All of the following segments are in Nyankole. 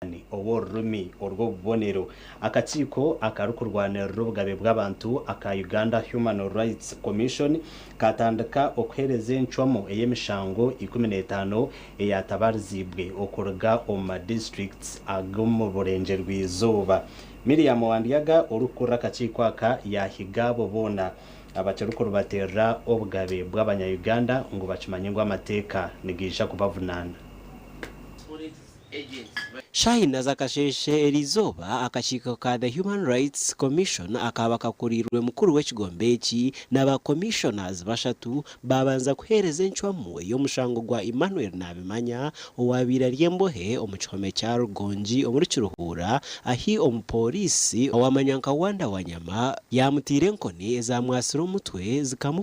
Omunyasudani ow'orurimi orw'obubonero. Akakiiko akarikurwanirira obugabe bw'abantu aka Uganda Human Rights Commission kaatandika okuheereza encwamu ey'emishango ikumi n'etaano eyaatabariziibwe okuruga omu ma districts ag'omu burengyerwa-izooba. Miriam Wandyaga orikukurira akakiiko aka yaahiga abo boona abakirikuribateerera obugabe bw'abanya-Uganda ngu bakimanye ngu amateeka nigaija kubavunaana. Shine aza kasheeshe eriizooba akakiiko ka The Human Rights Commission akaaba kakuriirwe mukuru w'ekigombe eki na ba Commissioners bashatu baabanza kuheereza encwamu ey'omushango gwa Emmanuel Nabimanya owaabaire ari embohe omu kihome kya Rugongi omuri Kiruhuura ahi omupooriisi owamanya nka Wonder Wanyama yaamutaire enkoni ezaamwatsire omutwe zikamu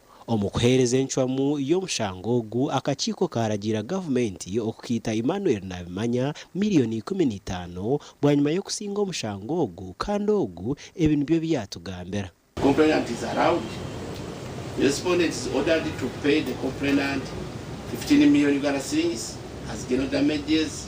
Omu kuheereza encwamu y'omushango ogu, akakiiko kaaragiira gavumenti okukaita Emmanuel Nabimanya miriyoni ikumi na itaano bwanyima y'okusinga omushango ogu kandi ogu ebi nibyo ebi yaatugambira. Complainant is allowed, respondent is ordered to pay the complainant fifteen million Uganda shillings as general damages.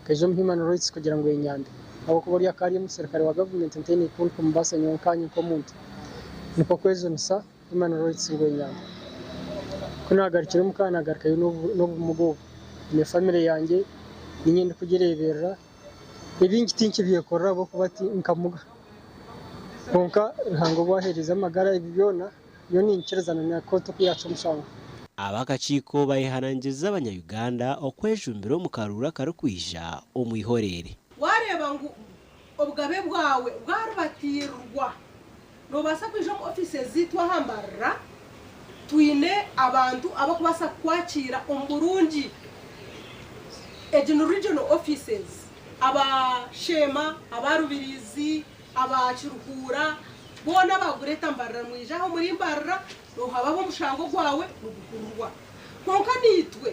Nkaija omu Human Rights kugira ngu enyambe ahabw'okuba ori akaari omuserukare wa gavumenti ntaine ei nkun kumubaasa nyowe nkaanye nk'omuntu. Nikwo kwejunisa Human Rights ngu enyambe. Ku naagarukire omu ka naagarukayo n'obumuga obu. Nyine famire yangye niinye ndikugireeberera. Ebingi tinkibyekorera ahabw'okuba ti nkamuga. Kwonka Ruhanga obu aheerize amagara ebi byona. Nyowe ninkiriza na na kooti ku yaacwa omushango. Ab'akakiiko bayeharangiza abanya Uganda okwejumbira omu karuuru akarikwija omu ihoreere. Waareeba ngu obugabe bwawe bwaribatiirirwa, noobaasa kwija omu ofiisi zaitu aha Mbarara. Twine abantu abarikubaasa kukwakiira omu burungi. Egi ni Regional Offices. Aba Sheema, aba Rubirizi, Aba Kiruhuura boona baagureeta mbarira mwije aha omuri mbarira, noohabaho omushango gwawe niguhururwa. Kwonka naitwe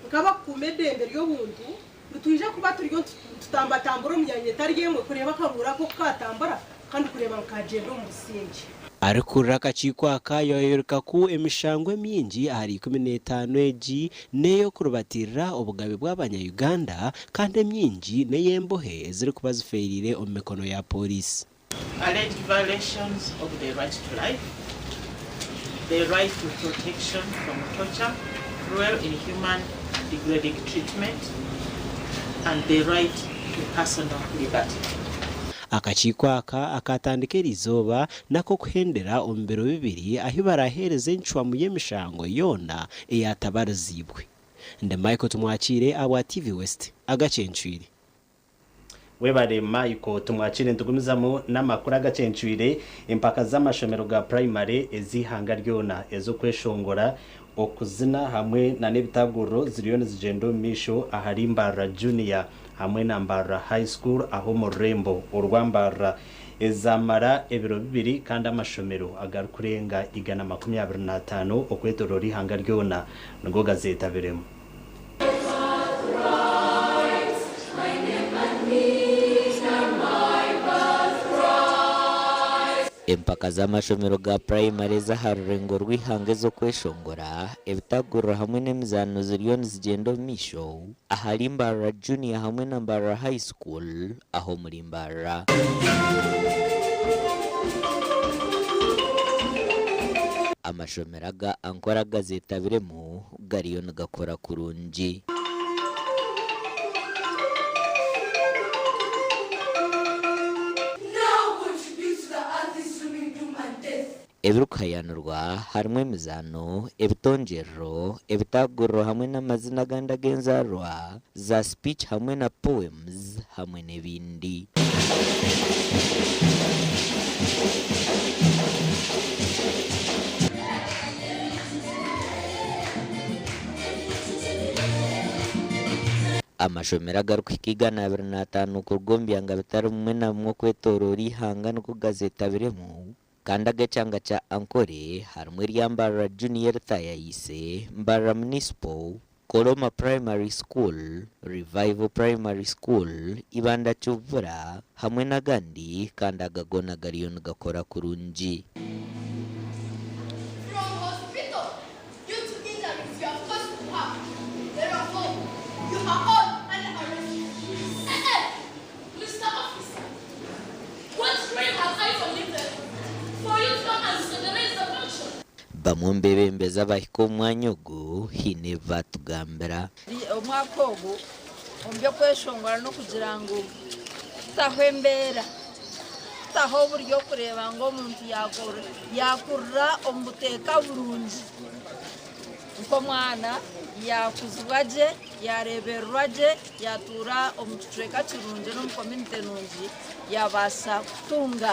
nk'abakukuuma edembe ry'obuntu, nitwija kuba turiyo nitutambatambura omu myanya etari emwe kureeba akaruhuura ako ku kaatambura kandi kureeba ngu kaagyenda omu busingye. Arikukurira akakiiko aka yaayooreka ku emishango emingi ahari ikumi n'etaano egi n'ey'okuribatiirira obugabe bw'abanya Uganda kandi emyingi n'ey'embohe ezirikuba zifeereire omu mikono ya pooriisi. Alleged violations of the right to life, the right to protection from torture, cruel, inhuman and degrading treatment and the right to personal liberty. Akakiiko aka akaatandika eri izooba n'ak'okuhendera omu biro bibiri ahu baraaheereza encwamu y'emishango yoona eyaatabariziibwe. Ndi Michael Tumwakiire ahabwa TV West Agacencwire. Webare Michael Tumwakiire Nitugumizamu n'amakuru agacencwire Empaka z'amashomero ga purayimare ez'eihanga ryona ez'okweshongora, okuzina hamwe na n'ebitaguriro ziriyo nizigyenda omu maisho ahari Mbarara Junior hamwe na Mbarara High School ah'omu rurembo orwa Mbarara. ezaamara ebiro bibiri kandi amashomero agarikurenga igana makumi abiri n'ataano okwetooroora eihanga ryona nigo gazeetabiremu. Empaka z'amashomero ga purayimari ez'aha rurengo rw'eihanga ez'okweshongora, ebitaguriro hamwe n'emizaano ziriyo nizigyenda omu maisho ahari Mbarara Junior hamwe na Mbarara High School aho omuri mbarira. Amashomero aga Ankora gazetabiremu gariyo nigakora kurungi. Ebirikuhayaanirwa harimu emizaano, ebitongyerero, ebitaaguriro hamwe n'amazina agandi ag'enzaarwa, za speech hamwe na poems hamwe n'ebindi. Amashomero agarikuhika igana abiri na ataano kuruga omu byanga bitari bimwe na bimwe okwetooroora eihanga nikwo gazeetabiremu. Kandi aga kyanga kya Ankole harimu erya Mbarara Junior Thayaise, Mbarara Municipal, Koloma Primary School, Revival Primary School, Ibanda Kivura hamwe n'agandi kandi aga goona gariyo nigakora kurungi. Bamwe omu beebembezi abahika omu mwanya ogu haine ebi baatugambira. Omwaka ogu omu by'okweshongora n'okugira ngu tutaho embeera, tutaho oburyokureeba ngu omuntu yaakurira omu buteeka burungi nk'omwana, yaakuzibwa gye, yaareebererwa gye, yaatuura omu kicweka kirungi n'omu komyunite nungi, yaabaasa kutunga.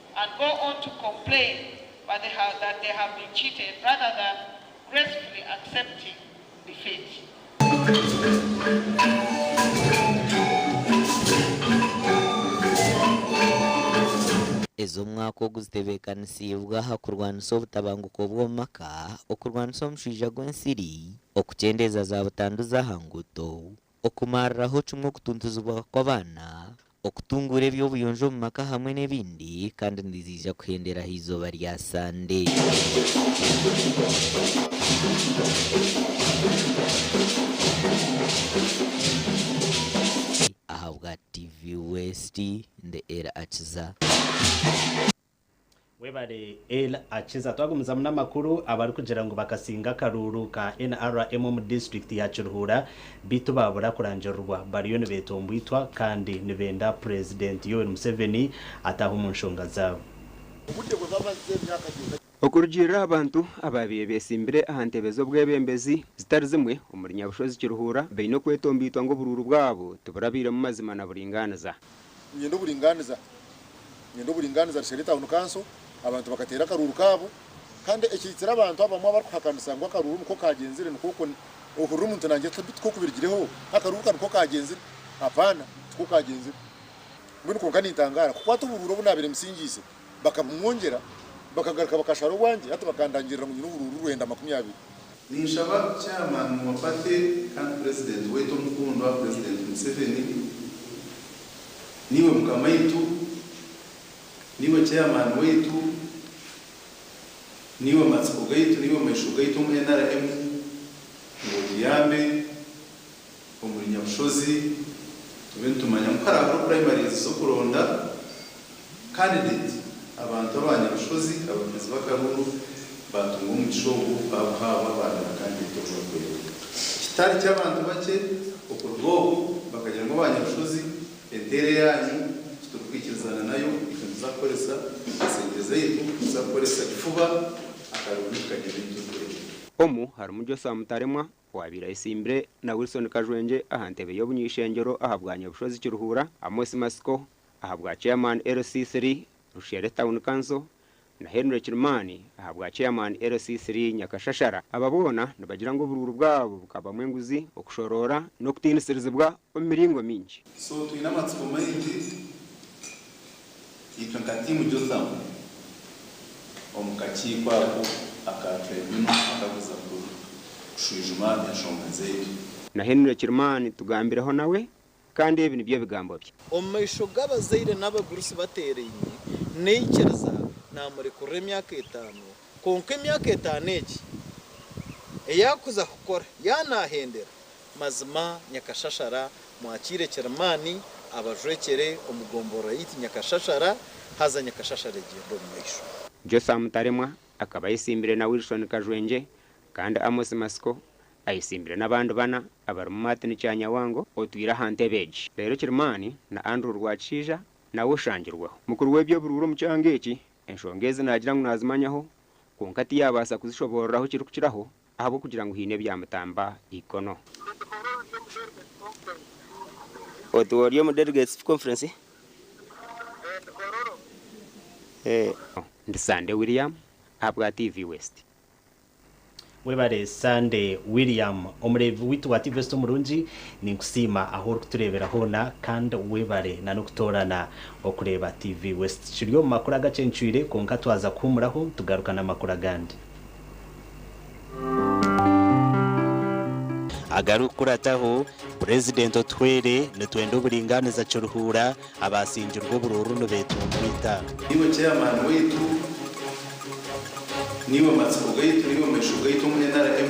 and go on to complain but they have that they have been cheated rather than gracefully accepting defeat. Ez'omwaka ogu zitebeekanisiibwe aha kurwanisa obutabanguko bw'omu maka, okurwanisa omushwija gw'ensiri, okukyendeeza za butanduzi aha nguuto, okumariraho kimwe okutuntuzibwa kw'abaana, okutunguura eby'obuyonjo omu maka hamwe n'ebindi kandi niziija kuhendera aha izooba rya Sande. Ahabwa TV West, ndi Eri Akiza. Webare Ella Akiza. Twagumizamu n'amakuru abarikugira ngu bakasinga akaruuru ka NRM omu disiturikiti ya Kiruhura beitu baabura kurangirirwa bariyo nibetombwitwa kandi nibenda Purezidenti Yoweri Museveni ataahe omu nshonga zaabo. Okurugiirira aha bantu abaabaire beetsimbire aha ntebe z'obwebembezi zitari zimwe omuri Nyabushozi Kiruhura baine okwetombwitwa ngu oburuuru bwabo tiburabairemu mazima na buringaaniza. Ninyenda oburingaaniza. Ninyenda oburingaaniza, Rishari Town Council, abantu bakateera akaruuru kaabo kandi ekihikiire abantu abamwe abarikuhakanisa ngu akaruuru nikwo kaagyenzire nikwo okwo ohurira omuntu naagira ati tikwo kubirigireho, akaruuru ka nikwo kaagyenzire. Apaana, tikwo kaagyenzire. Mbwenu kwonka nintangaara kukwata oburuuru obu naabaire mbisingiise. bakabumwongyera, bakagaruka bakashara obwangye hati bakandangirira ngu nyine oburuuru rwenda makumi abiri. Ninshaba Chairman wa Party kandi President waitu omukundwa President Museveni, niiwe Mukamaitu, niiwe Chairman waitu, niiwe matsiko gaitu, niiwe maisho gaitu omu nrm ngu otuyambe omuri Nyabushozi tube nitumanya ngu hariho primaries z'okuronda candidate abantu aba Nyabushozi abakizi b'akaruru batunga omugisha ogu babuhabwa baabera candidate ogu barikwenda. Kitari ky'abantu bakye okuruga obu bakagira ngu aba Nyabushozi enteera eyaanyu titurikwikirizana nayo itwe nituza kukoresa sente zaitu nituza kukoresa kifuba akaruru nitukagira ebi turikwenda. Omu harimu Joshua Mutaremwa Owaabaire ayesimbire na Wilson Kajwengye aha ntebe y'obunyaishengyero aha bwa Nyabushozi Kiruhura, Amos Matsiko aha bwa Chairman LC3 Rushere Town Council na Henry Kirimani aha bwa Chairman LC3 Nyakashashara. Aba boona nibagira ngu oburuuru bwabo bukabamu enguzi, okushoroora n'okutiinisirizibwa omu miringo mingi. So twine amatsiko maingi itwe nka tiimu Jothamu omu kakiiko ako aka Tribunal akakuza kushwijuma enshonga zaitu. Na Henry Kirimani tugambireho nawe kandi ebi nibyo bigambo bye. Omu maisho g'abazaire n'abagurusi bateeraine, naikiriza naamurekurira emyaka etaano Kwonka emyaka etaano egi eyaakuza kukora yaanaahendera, mazima Nyakashashara mwakiire Kirimaani abajwekyere omu gomborora yaitu Nyakashashara, haza Nyakashashara egyende omu maisho. Jotham Mutaremwa akaba ayetsimbire na Wilson Kajwengye kandi Amos Matsiko ayetsimbire n'abandi bana abarimu Martin Kyanyawango otwire aha ntebe egi. Reero Kirimaani na Andrew Rwakishaija nawe oshangirweho mukuru w'eby'oburuuru omu kyanga eki Enshonga ezi naagira ngu naazimanyaho, kwonka tiyaabaasa kuzishoboororeraho kirikukiraho ahabw'okugira ngu haine ebyamutamba eikono. Otuha ori omu Delegates Conference? Ndi Sande William ahabwa TV West. Webare Sande William omureebi waitu wa Tvest omurungi. Ninkusiima ahu orikutureebera hoona kandi webare na n'okutoorana okureeba TV West. Kiri omu makuru agacencwire kwonka twaza kuhuumuraho tugaruka n'amakuru agandi. Agarikukurataho, Purezidenti Otuhwere, Nitwenda oburingaaniza Kiruhura, abaasingirwe oburuuru nibeetunguuta. Niiwe Chairman waitu, niiwe matsiko gaitu, niiwe maisho gaitu omu nrm.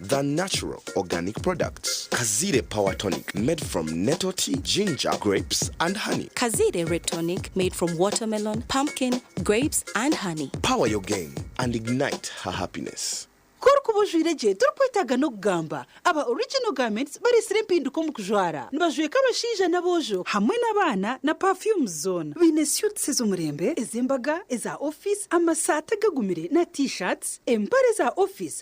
The natural organic products, Kaziire power tonic made from nettle tea, ginger, grapes and honey. Kaziire red tonic made from watermelon, pumpkin, grapes and honey. Power your game and ignite her happiness. Ku orikuba ojwaire gye torikwetaaga n'okugamba. Aba Original Garments bareetsire empinduka omu kujwara. Nibajweka abashaija n'aboojo hamwe n'abaana na perfumes zoona. Baine suits ez'omurembe, ez'embaga, eza office, amasaati agagumire na T-shirts, empare za office,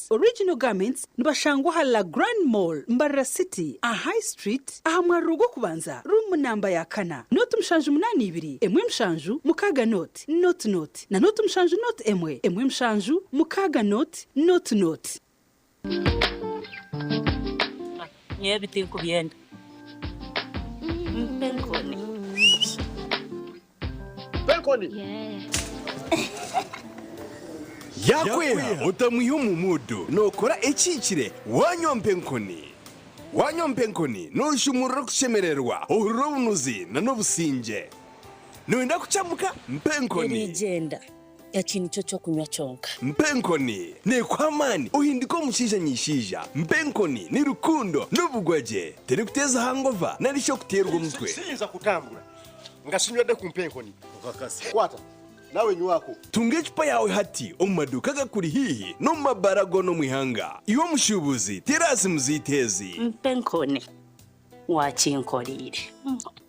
Original Garments nibashangwa aha La Grande Mall, Mbarara City, aha High Street, aha mwariro gw'okubanza, ruumu namba ya kana, nooti mushanju munaana ibiri, emwe mushanju, mukaaga nooti, nooti nooti, na nooti mushanju nooti emwe, emwe mushanju, mukaaga nooti, nooti nooti. Nyowe ebi tinkubyenda. Yaakweha otamwiha omu muudu, nookora ekihikire waanywa mpa enkoni. Waanywa mpa enkoni, nooshuumurura okushemererwa, ohurira obunuzi n'obusingye. Nooyenda kucamuka? Mpa enkoni. Eriigyenda Eki nikyo kyokunywa kyonka. Mpa enkoni. Nekuha amaani. Ohindika omushaija nyishaija. Mpa enkoni. Ni rukundo. Ni obugwa gye. Teri kuteeza hangova nari shi okuteerwa omutwe. Siyinza kutambura nga sinywedde ku mpa enkoni. Okakasa. Kwata. Nawe nywako. Tunga ecupa yaawe hati omu maduuka agakuri haihi n'omu mabaara goona omu ihanga. Iwe omushuubuzi, teera aha simu zaitu ezi. Mpa enkoni. Wakinkoreire.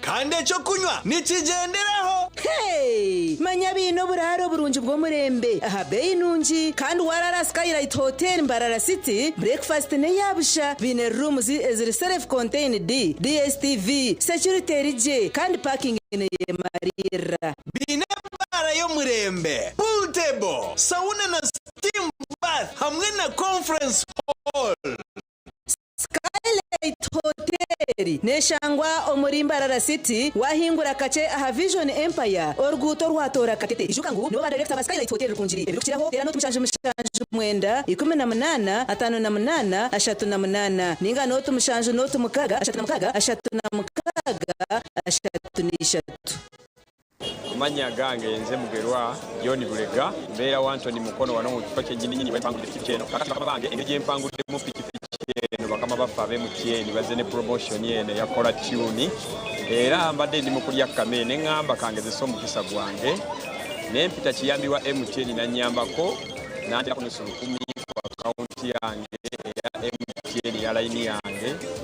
Kandi eky'okunywa nikigyenderaho. Hey! Manya baine oburaaro burungi bw'omurembe aha beeyi nungi, kandi waaraara aha Skylight Hotel Mbarara City, bureekifasiti n'eya busha, baine rooms eziri self-contained, DSTV, security eri gye, kandi paakingi neeyemariirira. Baine baara y'omurembe, pool table, sauna na steam bath hamwe na conference hall. Skylight Hotel neshangwa omuri Mbarara City, wahingura kakye aha Vision Empire oruguuto orwatoora Katete. Ijuka ngu nibo ba Director ba Skylight Hotel Rukungiri ebirikukiraho teera n'otu mushanju mushanju mwenda ikumi na munaana ataano na munaana ashatu na munaana ninga n'otu mushanju n'otu mukaaga ashatu na mukaaga ashatu na mukaaga ashatu na ishatu. Amanya gange nze Mugerwa John Bulega mbera wa Ntoni Mukono wanu omu kifo kyenyini nyini wempangurire pikipiki eno kakati bakama bange engeri gyempanguriiremu pikipiki eno bakama bafa abe MTN baze ne promotion eno eya Kora Tune era mbade ndi mukurya kukama eno engamba kangezese omugisa gwange nempita kiyambi wa MTN nanyambako nanteraho omusuru kumi ku account yange eya MTN eya line yange.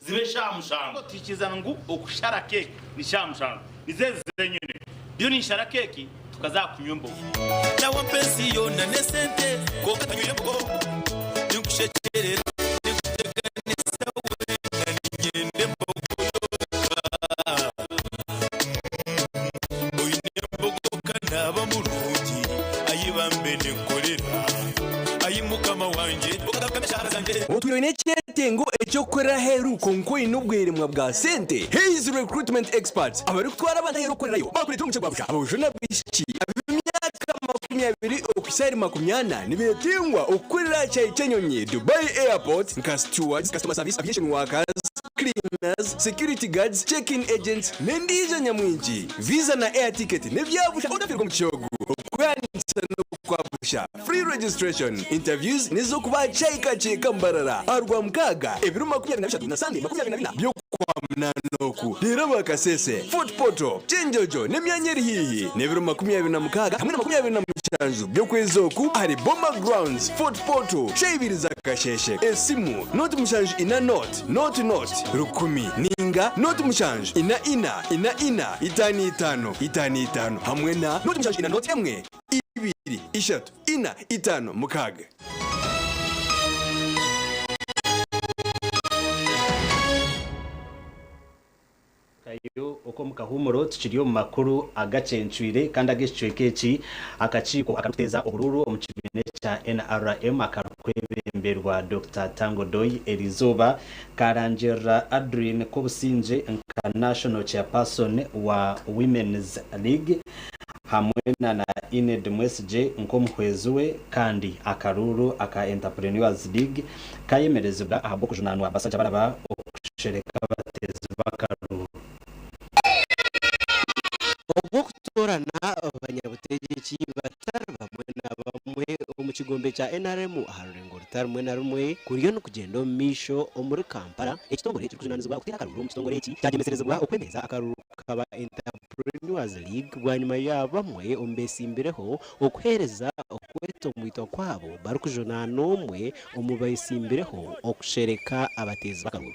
zibe shaaha mushango. Tuhikiiriza ngu okushara keeki ni shaaha mushango. Nizo ezi zeenyini. Ndiyo ninshara keeki tukaza kunywa embogo. Nawe ampa ensi yoona n'esente kwonka tanywire embogo. Ninkushekyerera, ninkuteganisa weena, niinyenda embogo yonka. Otwire oine ekyetengo eky'okukorera aheeru kwonka oine obweremwa bwa sente? Hayes Recruitment Experts abarikutwara abantu aheeru kukorerayo baakureetera omugisha gwa busha. Aboojo n'abaishiki ab'emyaka makumi abiri okuhitsya ahari makumi ana nibeetenguha okukorera aha kihaayi ky'enyonyi, Dubai Airport, nka stewards, customer service, aviation workers, cleaners, security guards, check-in agents n'endiijo nyamwingi. Visa na air ticket n'ebya busha otafiirwe omu kishoogo. Okweyandikisa n'okwa busha, free registration. Interviews n'ez'okuba aha kyayi ka kyeeka Mbarara aha Rwamukaaga ebiro makumi abiri na bishatu na Sande makumi abiri na bina by'Okwamunaana oku. Reero aba Kasese, Fort Portal, Kyenjojo n'emyanya eri haihi n'ebiro makumi abiri na mukaaga hamwe na makumi abiri na mushanju by'okwezi oku ahari Boma Grounds, Fort Portal, Shaibiriza, Kasheeshe. Esimu, Note mushanju ina not. noti, noti, noti, rukumi, nainga noti mushanju, ina, ina, ina, ina, itaano, itaano, itaano, itaano, hamwe na noti mushanju ina noti emwe, ibiri, ishatu, ina, itaano, mukaaga. Kairu oku omu kahuumuro tukiri omu makuru agacencwire kandi ag'ekicweka eki, akakiiko akarikuteeza oburuuru omu kibiina ekya nrm akarikwebeemberwa Dokita Tang Odoi eri izooba kaarangirira Adrien Kobusingye nka National Chairperson wa Women's League hamwe na na Enid Mwesigye nk'omuhwezi we kandi akaruuru aka Enterpreneurs League kayemerezibwa ahabw'okujunaanwa bashaija baraba kushereka abateezi b'akaruru. Ogw'okutoorana banyabutegyeki batari bamwe na bamwe omu kigombe kya nrm aha rurengo rutari rumwe na rumwe kuriyo nikugyenda omu maisho omuri Kampala, ekitongore ekirikujunaanizibwa kuteera akaruru omu kitongore eki kyagyemesirezibwa okwemereza akaruru. kukaba Entrepreneurs League bwanyima ya bamwe omu beesimbireho okuheereza okwetomwitwa kwabo barikujunaana omwe omu beesimbireho okushereka abateezi b'akaruru.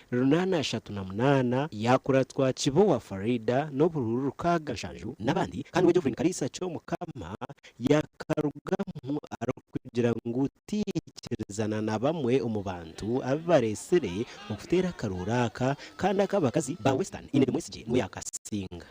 Runana ashatu na munaana, Yakuratwa Kibowa Faridah n'oburuuru rukaaga nshanju n'abandi kandi we Jovrin Kariisa Kyomukama yakarugamu arikugira ngu tiyaikirizaana na bamwe omu bantu abu bareetsire okuteera akarooro aka kandi aka abakazi ba Western Iine Tumwesigye niwe yaakasinga.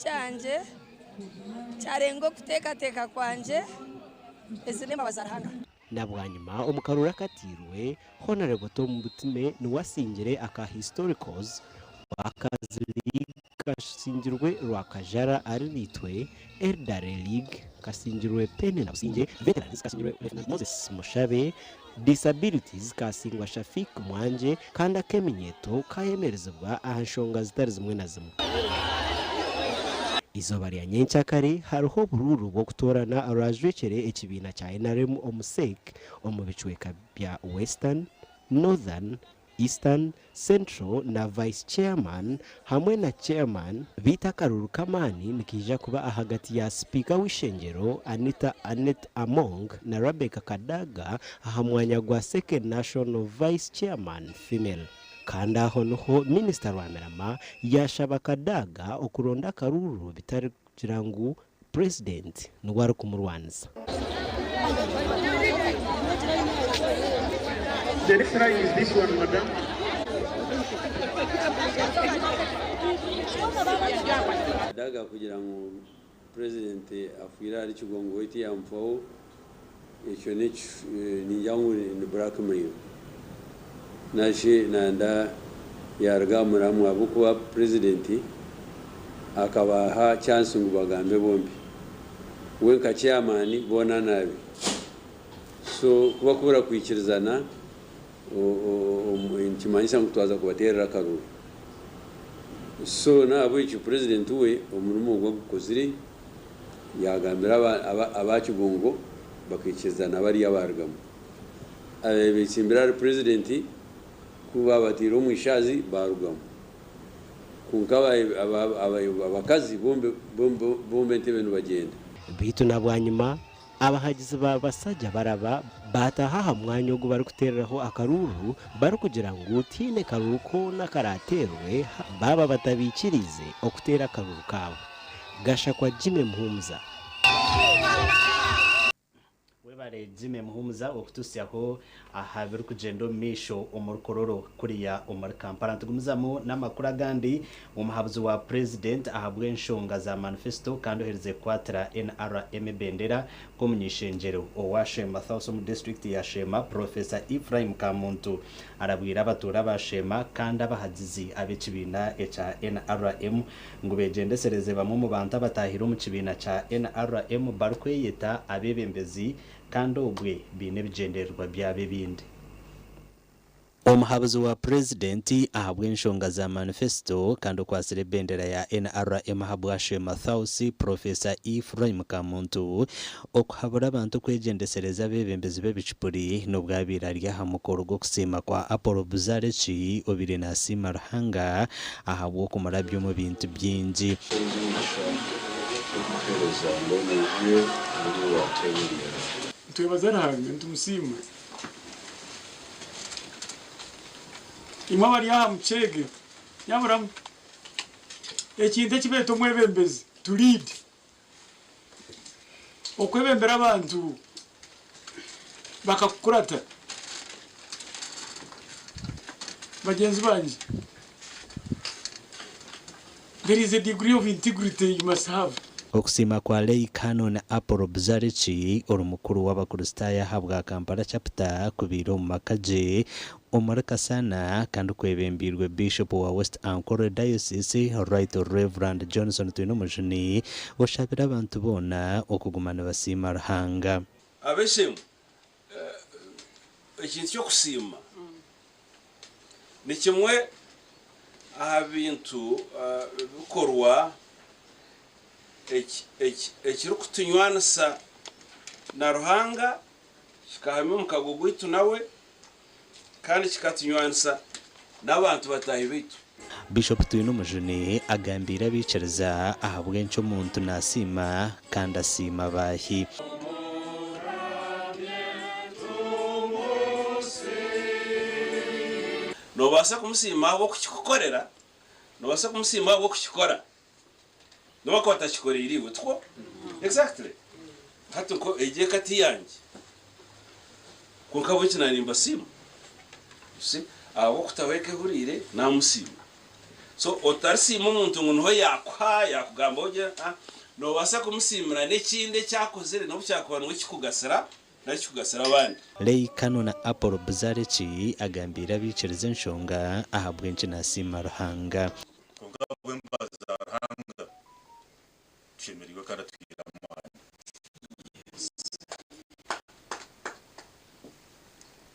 kyangye kyarenga okuteekateeka kwangye, ezi n'embabazi za Ruhanga. Na bwanyima omu karooro akatairwe, Honourable Tom Butime niwe asingire aka Historicals Workers League kasingirwe Rwakajara Arinaitwe, Elderly League kasingirwe Pennina Busingye, Veterans kasingirwe Lt Moses Mushabe, Disability zikaasingwa Shafiq Mwanje kandi ak'eminyeeto kaayemerezibwa aha nshonga zitari zimwe na zimwe. Eizooba rya nyenkya kare hariho oburuuru bw'okutoorana orwaajwekyere ekibiina kya nrm omu Sec omu bicweeka bya Western, Northern, Eastern, Central na Vice Chairman hamwe na Chairman, beitu akaruru k'amaani nikaija kuba ahagati ya Sipiika w'eishengyero Anita Annet Among na Rebecca Kadaga aha mwanya gwa Second National Vice Chairman, Female. Kandi aho niho Minisita Rwamirama yaashaba Kadaga okuronda akaruru bitari. Kugira ngu purezidenti niwe arikumurwanisa. Kadaga kugira ngu purezidenti afiire ahari Kigongo we tiyaamufaho Ekyo ningira ngu ni blackmail nari nanda yaruga aha muramwa ahabw'okuba president akabaaha chance ngu bagambe bombi we nka chairman boona naabe so ku bakubura kwikirizana nikimanyisa ngu twaza kubateerera akaruru so n'ahabw'ekyo president we omurimo ogu agukozire. Yaagambira aba Kibungo bakaikiriza na bariya baarugamu. Abaabaire beetsimbire ahari Purezidenti ku baabateire omu ishaazi baarugamu. Kwonka abakazi bombi entebe nibagyenda. Beitu na bwanyima Abahagizi ba basaja baraba baataaha aha mwanya ogu barikuteereraho akaruuru barikugira ngu tihaine karuuru koona karaateerwe baaba batabaikiriize okuteera akaruuru kaabo. Gashakwa Jimmy Muhumuza. Webare Jimmy Muhumuza okututsyaho aha birikugyenda omu maisho omu Rukororo kuriya omuri Kampala. Nitugumizamu n'amakuru agandi. Omuhabuzi wa Purezidenti ahabw'enshonga za manifesito kandi oherize kukwatira NRM ebendera nk'omuny'eishengyero owa Sheema South omu disiturikiti ya Sheema, Purofesa Ephraim Kamuntu arabwire abatuura ba Sheema kandi abahagizi ab'ekibiina ekya NRM ngu beegyendesereze bamwe omu bantu abataahire omu kibiina kya NRM barikweyeta abeebembezi kandi obwe baine ebigyendererwa byabo ebindi. Omuhabuzi wa Purezidenti ahabw'enshonga za manifesito kandi okwatsire ebendera ya NRM ahabwa She Mathausi, Purofesa Ephraim Kamuntu, okuhabura abantu kwegyendesereza abeebembezi b'ebicupuri n'obwabaire ari aha mukoro gw'okusiima kwa Apollo Buzareki obaire naasiima Ruhanga ahabw'okumurabya omu bintu bingi. Enyigisha y'okuheereza mbwenu ije buri waatebembera. Nitwebaza Ruhanga, nitumusiima. Imwe abari aha muceege, nyaburamu. Ekintu eki beeta omwebembezi, to lead, Okwebembera abantu bakakukurata bagyenzi bangye. There is a degree of integrity you must have. Okusiima kwa Lay Canon Apollo Buzariki, ori mukuru w'Abakristaayo ahabwa Kampala Chapter, kubaire omu maka gye Omuri kasana kandi kwebembeirwe Bishop wa West Ankole Diocese Right Rev Johnson Twinomujuni oshabire abantu boona okuguma nibasiima Ruhanga. Abeshemu ekintu ky'okusiima ni kimwe aha bintu bikorwa ekirikutunywanisa na Ruhanga Kikahamya omukago gwaitu nawe kandi kikatunywanisa n'abantu bataahi baitu. Bishop Twinumujuni agambiire abaikiriza ahabw'enki omuntu nasiima kandi asiima baahi. Nobaasa kumusiima ahabw'okukikukorera. Nobaasa kumusiima ahabw'okukikora. Noba akaba atakikoreire iwe, tikwo? Exactly. Hati nko egi eka ti yangye. Kwonka ahabw'enki nari nimbasiima? You see? Ahabw'okutaho eka ehuriire, naamusiima. So otarisiima omuntu ngu niho yaakuha, yaakugambaho gye, aa. Noobaasa kumusiimira n'ekindi eki akozire n'obu kyakuba niwe kikugasira nari kikugasira abandi. Leigh Cannon Apple Buzareki agambiire abaikiriza enshonga ahabw'enki naasiima Ruhanga. Kwonka ahabw'embabazi za Ruhanga, tushemereirwe kandi atuhaire amaani.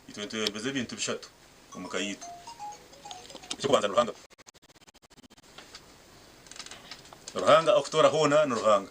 Itwe nitwebembeza ebintu bishatu omu ka yaitu. Eky'okubanza ni Ruhanga. Ruhanga arikutoora hoona ni Ruhanga.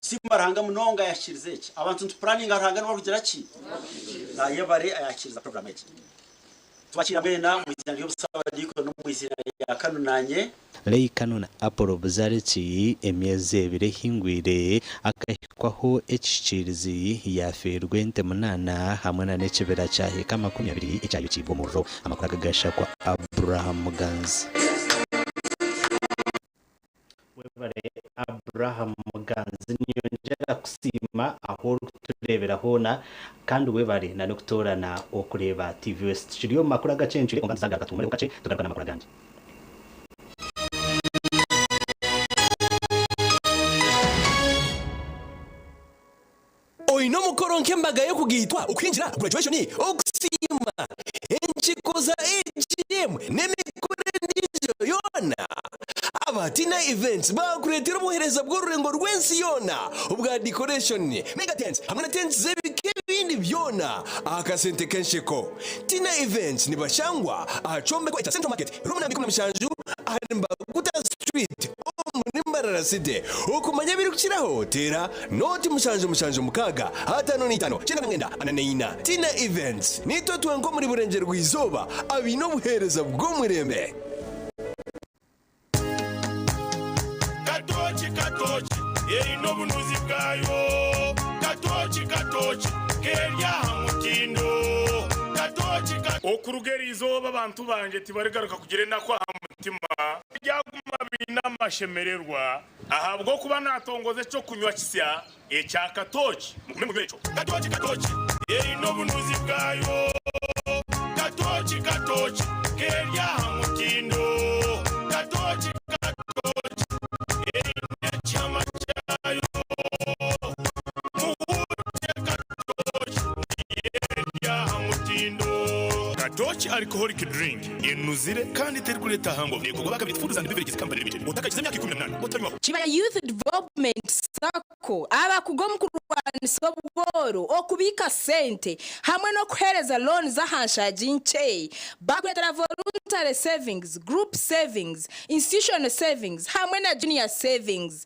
Siimba Ruhanga munonga ayakikiriza eki. Abantu nitupuraninga Ruhanga niwe arugira ki? Nayebare ayakikiriza puroguramu egi. Tubakiira mwena omu iziina ry'obusabadiikoni omu iziina rya Kanu nanye. Ray Kanu na Apollo Buzariki. Emyezi ebiri ehingwire, akahikwaho ekishikiirizi, yaafiirwa ente munaana hamwe na n'ekibira kya heka makumi abiri ekyayokiibwe omuriro. Amakuru aga gashakwa Abraham Muganzi. Webare Abraham Muganzi ninyongyera kusiima ahu orikutureebera hoona kandi webare na n'okutoorana okureeba TV West. Tukiri omu makuru agacencwire kwonka nituzaagaruka tuhuumureho kakye tugaruka n'amakuru agandi. Oine omukoro nk'embaga y'okugaitwa, okuhingira, graduation, okusiima, enkiiko za AGM, n'emikoro endiijo yoona? Abatiina Events baakureetera obuheereza bw'orurengo rw'ensi yoona obwa decoration, mega tents, hamwe na tents z'ebika ebindi byona aha kasente k'ensheko. Tiina Events nibashangwa aha kyombeko ekya Central Market, room namba ikumi na mushanju ahari Mbaguta Street, Omu ni mbarara site. Okumanya ebirikukiraho, teera nooti mushanju mushanju mukaaga ataano naitaano kyenda na mwenda ana na ina. Tina Events niitwe twenka omuri Burengyerwa-izooba abaine obuheereza bw'omureembe. Katooki katooki eine obunuzi bwayo Katooki katooki k'eri aha mutindo Katooki katooki. Okuruga eri izooba abantu bangye tibarigaruka kugira enaku aha mutwe. mutima aryaguma abaine amashemererwa ahabw'okuba naatongoza eky'okunywa kisya ekya katooki. Mugume munywe ekyo. Katooki katooki eine obunuzi bwayo. Katooki katooki k'eri aha mutindo. Katooki katooki eine ekihama kyayo. Muhurukye katooki nayo eri aha mutindo. Katooki alcoholic drink enuzire kandi terikureeta aha ngoma neekorwa baakabaire tufundiza nibyo biregye zikampani limited otakagize emyaka ikumi na munaana otanywaho. Kibaya Youth Development Sacco abakuga omu kurwanisa obwooro, okubiika sente hamwe n'okuheereza looni z'aha nshaagi nkye bakureetera Voluntary Savings, Group Savings, Institutional Savings hamwe na Junior Savings.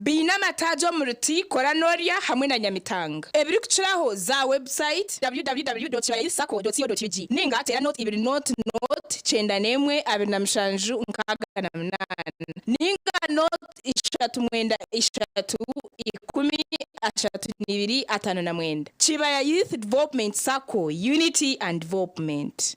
Baine amataagi omuri Tea, Kora N'orya hamwe na Nyamitanga. Ebirikukiraho, za website, www.kirayi-sacco.co.ug ninga teera note ibiri note note kyenda n'emwe abiri na mushanju nkaaga na munaana ninga note ishatu mwenda ishatu ikumi ashatu n'ibiri ataano na mwenda. Kibaya Youth Development Sacco, Unity and Development.